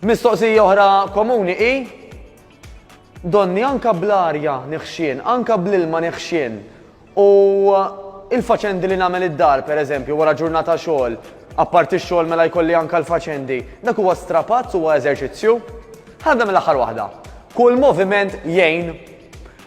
Mistoqsija oħra komuni hi donni anka bl-arja neħxien, anka bl-ilma neħxien u il-faċendi li nagħmel id-dar pereżempju wara ġurnata xogħol, apparti x-xogħol mela jkolli anka l-faċendi, dak huwa strapazz huwa eżerċizzju? Ħadda mill-aħħar waħda. Kull moviment jgħin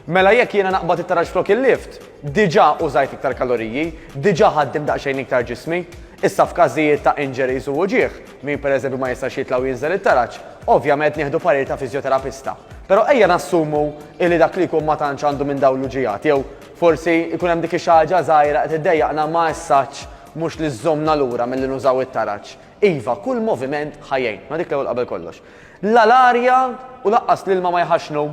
Mela jekk jiena naqbad it-taraġ flok il-lift, diġà użajt iktar kaloriji, diġà ħaddimt daqsxejn iktar ġismi. Issa f'każijiet ta' injuries u uġigħ, min pereżempju ma jistax jitla' u jinżel it-taraġ, ovvjament nieħdu parir ta' fiżjoterapista. Però ejja nassumu illi dak li jkun ma tantx għandu minn dawn l-uġigħat jew forsi jkun hemm dik ix-xi ħaġa żgħira qed iddejjaqna ma essaċ mhux li żżommna lura milli nużaw it-taraġ. Iva, kull moviment ħa jgħin. Ma dik l-ewwel qabel kollox. La l-arja u lanqas l-ilma ma jħaxxnu.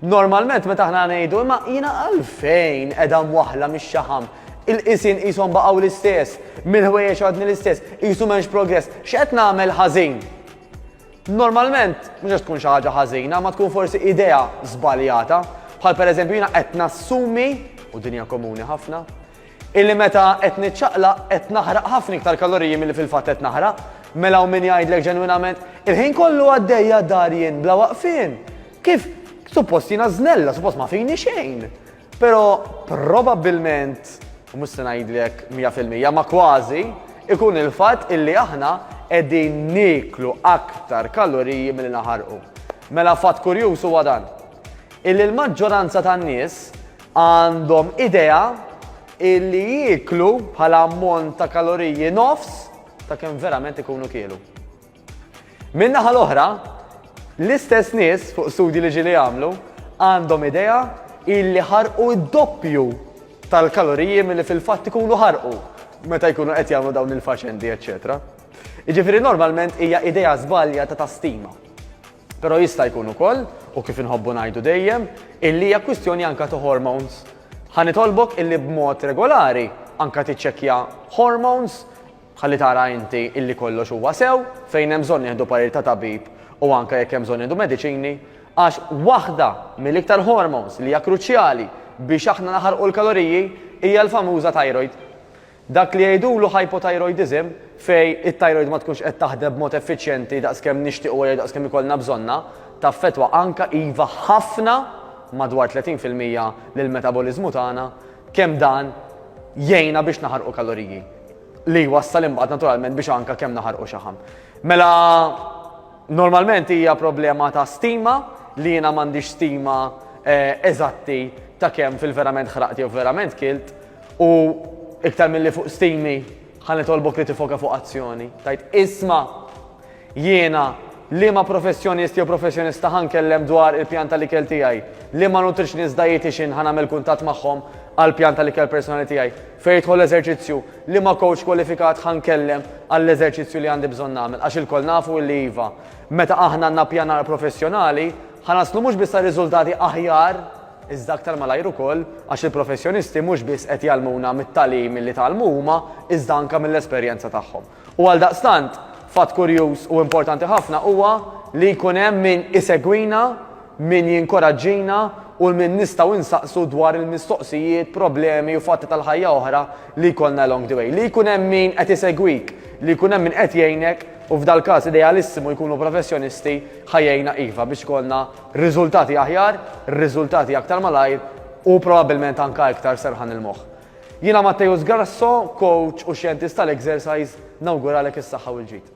Normalment meta aħna ngħidu imma jiena għalfejn qed hemm waħla mix-xaħam, il-qisien qishom baqgħu l-istess, mill-ħwejjeġ għadni l-istess, qisu m'hemmx progress, x'qed nagħmel ħażin? Normalment mhux qed tkun xi ħaġa ħażina, ma tkun forsi idea żbaljata, bħal pereżempju jiena qed nassumi, u din hija komuni ħafna, Illi meta qed niċċaqlaq qed naħraq ħafna iktar kaloriji milli fil-fatt qed naħraq. Mela hawn min jgħidlek ġenwinament, il-ħin kollu għaddejja d-dar jien bla waqfien. Kif? Suppost jiena żnella, suppost ma fini xejn. Però probabbilment, u mhux se ngħidlek 100% ma kważi, ikun il-fatt illi aħna qegħdin nieklu aktar kaloriji milli naħarqu. Mela fatt kurjuż huwa dan. Illi l-maġġoranza tan-nies għandhom idea illi jieklu bħala ammont ta' kaloriji nofs ta' kemm verament ikunu kielu. Min-naħa l-oħra, l-istess nies fuq studji li ġili jagħmlu għandhom idea illi ħarqu d-doppju tal-kaloriji milli fil-fatt ikunu ħarqu meta jkunu qed jagħmlu dawn il-faċendi, eċċetera. Jiġifieri normalment hija idea żbalja ta' tastima. Però jista' jkun ukoll, u kif inħobbu ngħidu dejjem, illi hija kwistjoni anka ta' hormones. Ħa nitolbok illi b'mod regolari anka tiċċekkja hormones ħalli tara inti illi kollox huwa sew, fejn hemm bżonn nieħdu parir ta' tabib u anka jekk hemm bżonn nieħdu mediċini, għax waħda mill-iktar hormones li hija kruċjali biex aħna naħarqu l-kaloriji hija l-famuża thyroid. Dak li jgħidulu hypothyroidism, fejn it-tajrojd ma tkunx qed taħdem b'mod effiċjenti daqskemm nixtiequ jew daqskemm ikollna bżonnha, taffettwa anke iva ħafna, madwar 30 fil-mija, lill-metaboliżmu tagħna, kemm dan jgħinna biex naħarqu kaloriji, li jwassal imbagħad naturalment biex anke kemm naħarqu xaħam. Mela normalment hija problema ta' stima li jiena m'għandix stima eżatti ta' kemm fil-verament ħraqt jew verament kilt, U iktar milli fuq stimi, ħa nitolbok li tifoka fuq azzjoni. Tgħid, Isma'! Jiena, liema professjonist jew professjonista ħa nkellem dwar il-pjan tal-ikel tiegħi? Liema nutritionist, dietician ħa nagħmel kuntatt magħhom għall-pjan tal-ikel personali tiegħi? Fejn jidħol l-eżerċizzju, liema coach kwalifikat ħa nkellem għall-eżerċizzju li għandi bżonn nagħmel? Għax ilkoll nafu illi iva, meta aħna nnappjanaw professjonali, ħa naslu mhux biss għal riżultati aħjar, iżda aktar malajr ukoll għax il-professjonisti mhux biss qed jgħallmuna mit-tagħlim li tgħallmu huma iżda anke mill-esperjenza tagħhom. U għaldaqstant, fatt kurjuż u importanti ħafna huwa li jkun hemm min isegwina, min jinkoraġġina u lil min nistgħu nsaqsu dwar il-mistoqsijiet, problemi u fatti tal-ħajja oħra li jkollna along the way. Li jkun hemm min qed isegwik, li jkun hemm min qed jgħinek u f'dal-każ idealissimu jkunu professjonisti ħa jgħinna iva biex ikollna Riżultati aħjar, riżultati aktar malajr u probabbilment anke iktar serħan il-moħħ. Jiena Matteus Grasso, coach u xjentist tal-exercise, nawguralek is-saħħa u l-ġid.